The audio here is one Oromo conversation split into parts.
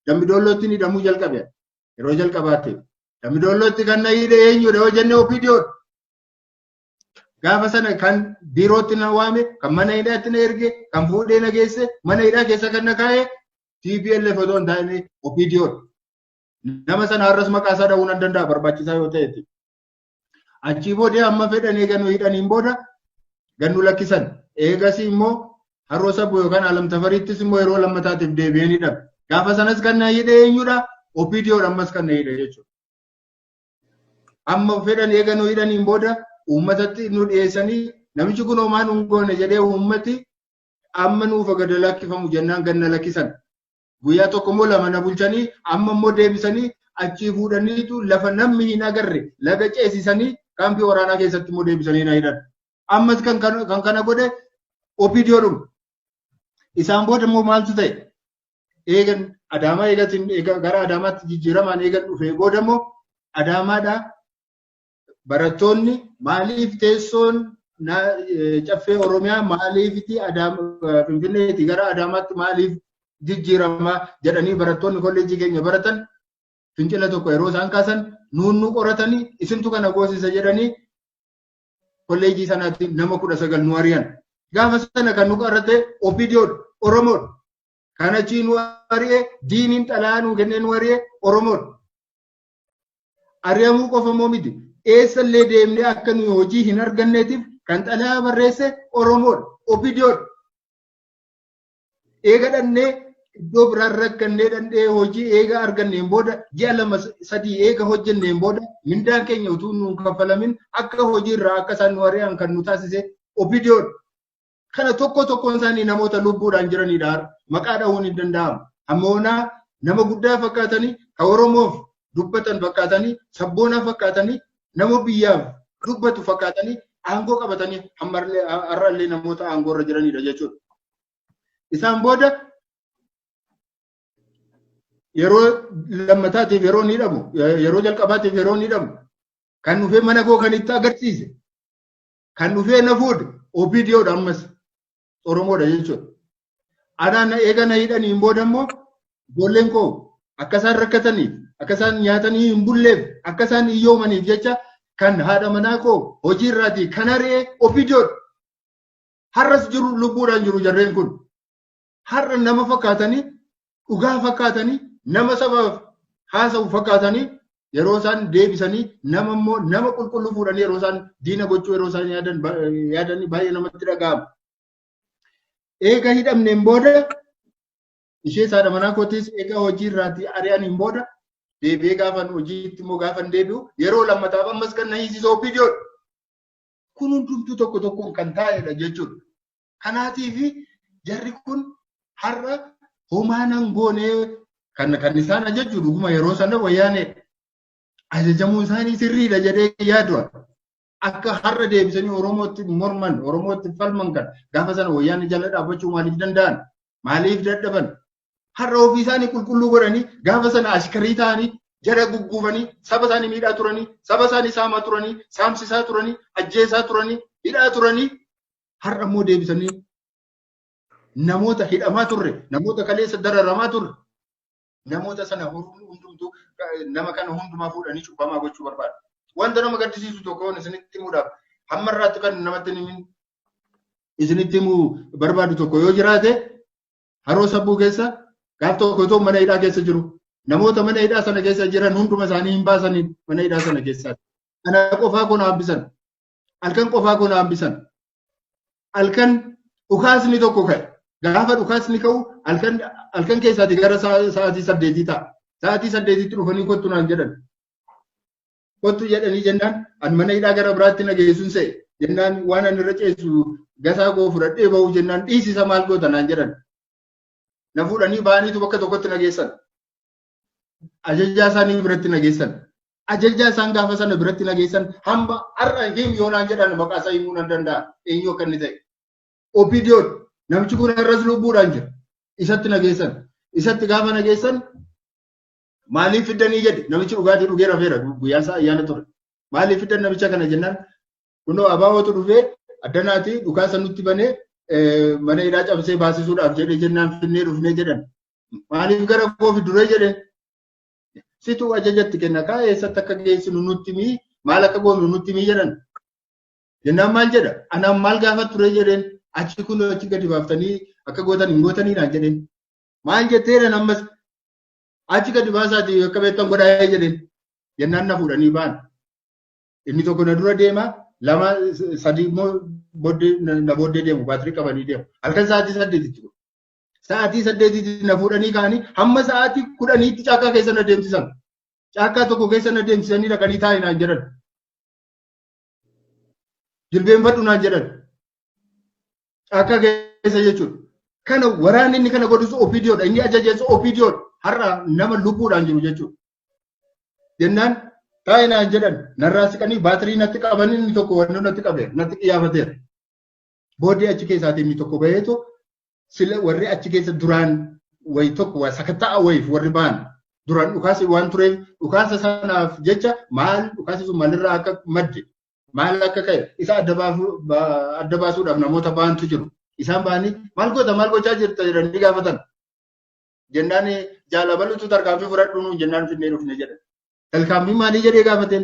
Dambidollootti hidhamuu jalqabe yeroo jalqabaatti. Dambidollootti kan na hidhe eenyudha yoo jenne OPDO'n. Gaafa sana kan biirootti na waame, kan mana hidhaatti na erge, kan fuudhee na geesse, mana hidhaa keessa kan na kaa'e TPLF otoo hin taane OPDO'n. Nama sana har'as maqaa isaa dha'uu nan danda'a barbaachisaa yoo ta'etti. Achii booda amma fedhan eega nu hidhaniin booda gad nu lakkisan. Eegasii immoo haroo sabuu yookaan alamtafariittis immoo yeroo lammataatiif deebi'ee ni dhabe. Gaafa sanas kan na hidhe eenyudha? OPDOdha ammas kan na hidhe jechuudha. Amma fedhan eega nu hidhaniin booda uummatatti nu dhiyeessanii namichi kun homaa nu hin goone jedhee uummati amma nuuf gad lakkifamu jennaan gad na lakkisan. Guyyaa tokko immoo lama na bulchanii amma immoo deebisanii achii fuudhaniitu lafa namni hin agarre laga ceesisanii kaampii waraanaa keessatti immoo deebisanii na hidhan. Ammas kan kana godhe OPDOdhuma. Isaan booda immoo maaltu ta'e? Eegan Adaamaa eegatiin gara Adaamaatti jijjiiramaan eegan dhufee booda immoo Adaamaadhaa barattoonni maaliif teessoon caffee Oromiyaa maaliifiti Finfinneeti gara Adaamaatti maaliif jijjiirama jedhanii barattoonni kolleejjii keenya baratan fincila tokko yeroo isaan kaasan nuunnu qoratanii isintu kana goosisa jedhanii kolleejjii sanaatti nama kudha sagal nu ari'an. Gaafa sana kan nu qorate OPDO'n Oromoon kan achii nu ari'e diiniin xalaa nu kennee nu ari'e Oromoon. Ari'amuu qofa immoo miti. Eessallee deemnee akka nuyi hojii hin arganneetiif kan xalayaa barreesse Oromoodha. Opidiyoodha. Eega dhannee iddoo biraan rakkannee dhandhee hojii eega arganneen booda ji'a lama sadii eega hojjenneen booda mindaan keenya utuu nuun kaffalamin akka hojiirraa akka isaan nu ari'an kan nu taasise opidiyoodha. Kana tokko tokkoon isaanii namoota lubbuudhaan jiranidha. Maqaa dhahuun hin danda'amu. Amma onaa nama guddaa fakkaatanii kan Oromoof dubbatan fakkaatanii sabboonaa fakkaatanii nama biyyaaf dubbatu fakkaatanii aangoo qabatanii har'allee namoota aangoo irra jiranidha jechuudha. Isaan booda yeroo lammataatiif yeroo ni dhabu yeroo jalqabaatiif yeroo ni dhabu kan dhufee mana koo kan itti agarsiise Kan dhufee na fuudhe OPDO dha ammas Oromoo dha jechuudha. Anaa na eega na hidhanii hin booda immoo ijoolleen koo akka isaan rakkataniif akka isaan nyaatanii hin bulleef akka isaan hiyyoomaniif jecha kan haadha manaa koo hojii irraatii kan ari'ee OPDO dha. Har'as jiru lubbuudhaan jiru jarreen kun. har'a nama fakkaatanii dhugaa fakkaatanii nama sabaaf haasa'u fakkaatanii yeroo isaan deebisanii nama immoo nama qulqulluu fuudhanii yeroo isaan diina gochuu yeroo isaan yaadan yaadanii baay'ee namatti dhaga'ama. Eega hidhamneen booda ishee saadha manaa kootis eega hojii irraatii ari'aniin booda deebi'ee gaafan hojiitti immoo gaafan deebi'u yeroo lammataaf ammas kan na hiisisoo opiidiyoodha. Kun hundumtuu tokko tokkoon kan taa'edha jechuudha. Kanaatiif jarri kun har'a homaa nan goonee kan kan isaan ajajju dhuguma yeroo sana wayyaanee ajajamuun isaanii sirriidha jedhee yaadu'a. Akka har'a deebisanii Oromootti morman, Oromootti falman kan gaafa sana wayyaanee jala dhaabbachuu maaliif danda'an? Maaliif dadhaban? Har'a ofii isaanii qulqulluu godhanii gaafa sana ashkarii ta'anii jara gugguufanii saba isaanii miidhaa turanii saba isaanii saamaa turanii saamsisaa turanii ajjeesaa turanii hidhaa turanii Har'a immoo deebisanii namoota hidhamaa turre, namoota kaleessa dararamaa turre, namoota sana hundumtuu nama kana hundumaa fuudhanii cubbamaa gochuu barbaadu. Wanta nama gaddisiisu tokkoon isinitti himuudhaaf hamma irraatti kan namatti himin isinitti himuu barbaadu tokko yoo jiraate haroo sabbuu keessa gaaf tokko otoo mana hidhaa keessa jiru namoota mana hidhaa sana keessa jiran hunduma isaanii hin baasanii mana hidhaa sana keessaati. Kana qofaa kun haabbisan. halkan qofaa koo na hambisan halkan dhukaasni tokko ka'e gaafa dhukaasni ka'u halkan halkan keessaati gara sa'a- sa'aatii saddeetii ta'a sa'aatii saddeetitti dhufanii kottu naan jedhan kottu jedhanii jennaan an mana hidhaa gara biraatti na geessuun se'e jennaan waan an irra ceessu gasaa koo fudhadhee ba'u jennaan dhiisisa maal goota naan jedhan na fuudhanii ba'aniitu bakka tokkotti na geessan Ajajaa isaanii biratti nageessan. Ajajaa isaan gaafa sana biratti nageessan hamba har'a him yoo naan jedhan maqaa isaa himuu nan danda'a. Eenyu akka inni ta'e. Opiidiyoon namichi kun har'as lubbuudhaan jira. Isatti nageessan. Isatti gaafa nageessan maaliif fiddanii jedhe namichi dhugaatii dhugee rafeera guyyaa isaa ayyaana ture. Maaliif fiddan namicha kana jennaan kunoo abaawootu dhufee addanaatii dhukaasa nutti banee mana hidhaa cabsee baasisuudhaaf jedhee jennaan finnee dhufnee jedhan. Maaliif gara koo fidure jedhe situ ajajatti kenna kaa eessatti akka geessinu nutti mii maal akka goonu nutti mii jedhan. Jennaan maal jedha anaan maal gaafa ture jedheen achi kun achi gadi baaftanii akka gootan hin gootanii naan jedheen. Maal jetteedhaan ammas achi gadi baasaatii akka beektan godhaa jedheen jennaan na fuudhanii ba'an. Inni tokko na dura deema lama sadii immoo booddee na booddee deemu baatirii qabanii deemu. Halkan sa'aatii saddeetitti Sa'aatii saddeetiitti na fuudhanii ka'anii hamma sa'aatii kudhaniitti caakkaa keessa na deemsisan. Caakkaa tokko keessa na deemsisanii dhaqanii taa'i naan jedhan. Jilbeenfadhu naan jedhan. Caakkaa keessa jechuudha. Kana waraanni inni kana godhus OPDOdha. Inni ajajeessu OPDOdha. Har'a nama lubbuudhaan jiru jechuudha. Jennaan taa'i naan jedhan narraa siqanii baatirii natti qabanii inni tokko wannoo natti qabeera natti qiyaafateera. Booddee achi keessaatii inni tokko baheetu sila warri achi keessa duraan wayi tokko waa sakatta'a wayiif warri ba'an duraan dhukaasa waan tureef dhukaasa sanaaf jecha maal dhukaasa sun maalirraa akka madde maal akka ka'e isa adda baafuu- ba- adda baasuudhaaf namoota ba'antu jiru. Isaan ba'anii maal goota maal gochaa jirta jedhanii gaafatan. Jennaan jaalabalutu tarkaanfii fudhadhu nuun jennaan finnee dhufne jedhan. Tarkaanfii maalii jedhee gaafateen?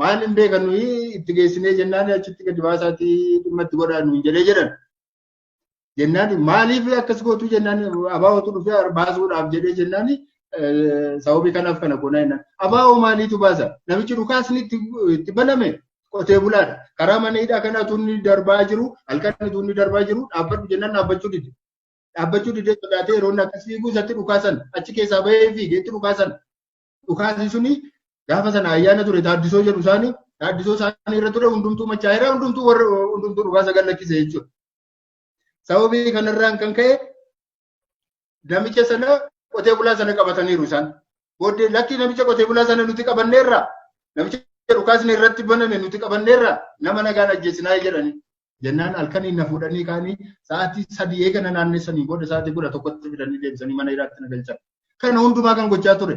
maal hin beekan nuyi itti geessinee jennaan achitti gadi baasaatii dhimma itti godhaa nuun jedhee jedhan. Jennaan maaliif akkas gootuu jennaan abaa'ootu dhufee baasuudhaaf jedhee jennaan sababii kanaaf kana goonaa jennaan. Abaa'oo maaliitu baasa? Namichi dhukaasni itti baname qotee bulaadha. Karaa mana hidhaa kana tunni darbaa jiru halkan tunni darbaa jiru dhaabbadhu jennaan dhaabbachuu dide. Dhaabbachuu didee sodaatee yeroo inni akkas fiiguu isatti dhukaasan achi keessaa bahee fiigee itti dhukaasan. dhukaasi suni gaafa sana ayyaana ture taaddisoo jedhu isaanii taaddisoo isaanii irra ture hundumtuu machaa'eera hundumtuu warra hundumtuu dhukaasa gallakkise jechuudha. Sababii kanarraan kan ka'e namicha sana qotee bulaa sana qabataniiru isaan. Booddee lakkii namicha qotee bulaa sana nuti qabanneerra namicha dhukaasni irratti baname nuti qabanneerra nama nagaan ajjeesinaa jedhani. Jennaan halkaniin na fuudhanii kaanii sa'aatii sadii eega na naannessanii booda sa'aatii kudha tokkotti fidanii deebisanii mana hidhaatti na galchan. Kana hundumaa kan gochaa ture.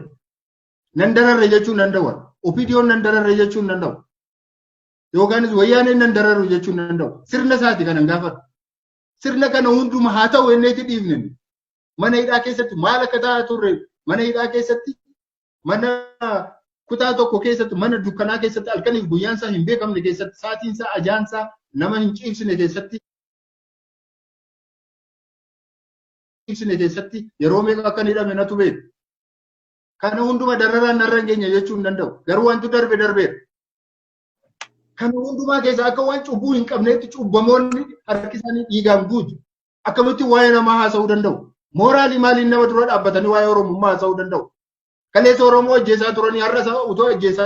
Nan dararre jechuun nan dawwa. Opiidiyoon nan dararre jechuun nan dawwa. Yookaanis wayyaaneen nan dararru jechuun nan dawwa. Sirna isaati kanan gaafadhu. Sirna kana hunduma haa ta'u enneetti dhiifne. Mana hidhaa keessatti maal akka ta'aa turre mana hidhaa keessatti mana kutaa tokko keessatti mana dukkanaa keessatti halkaniif guyyaan isaa hin beekamne keessatti saatiin isaa ajaan isaa nama hin ciibsine keessatti ciibsine keessatti yeroo meeqa akka inni hidhame natu beeku. Kana hunduma dararaan narra hin geenye jechuu hin danda'u. Garuu wanti darbe darbeera. Kana hundumaa keessaa akka waan cubbuu hin qabneetti cubbamoonni harki isaanii dhiigaan guutu. Akkamitti waa'ee namaa haasa'uu danda'u? Mooraalii maaliin nama dura dhaabbatanii waa'ee Oromummaa haasa'uu danda'u? Kaleessa Oromoo ajjeesaa turanii har'a utuu ajjeesaa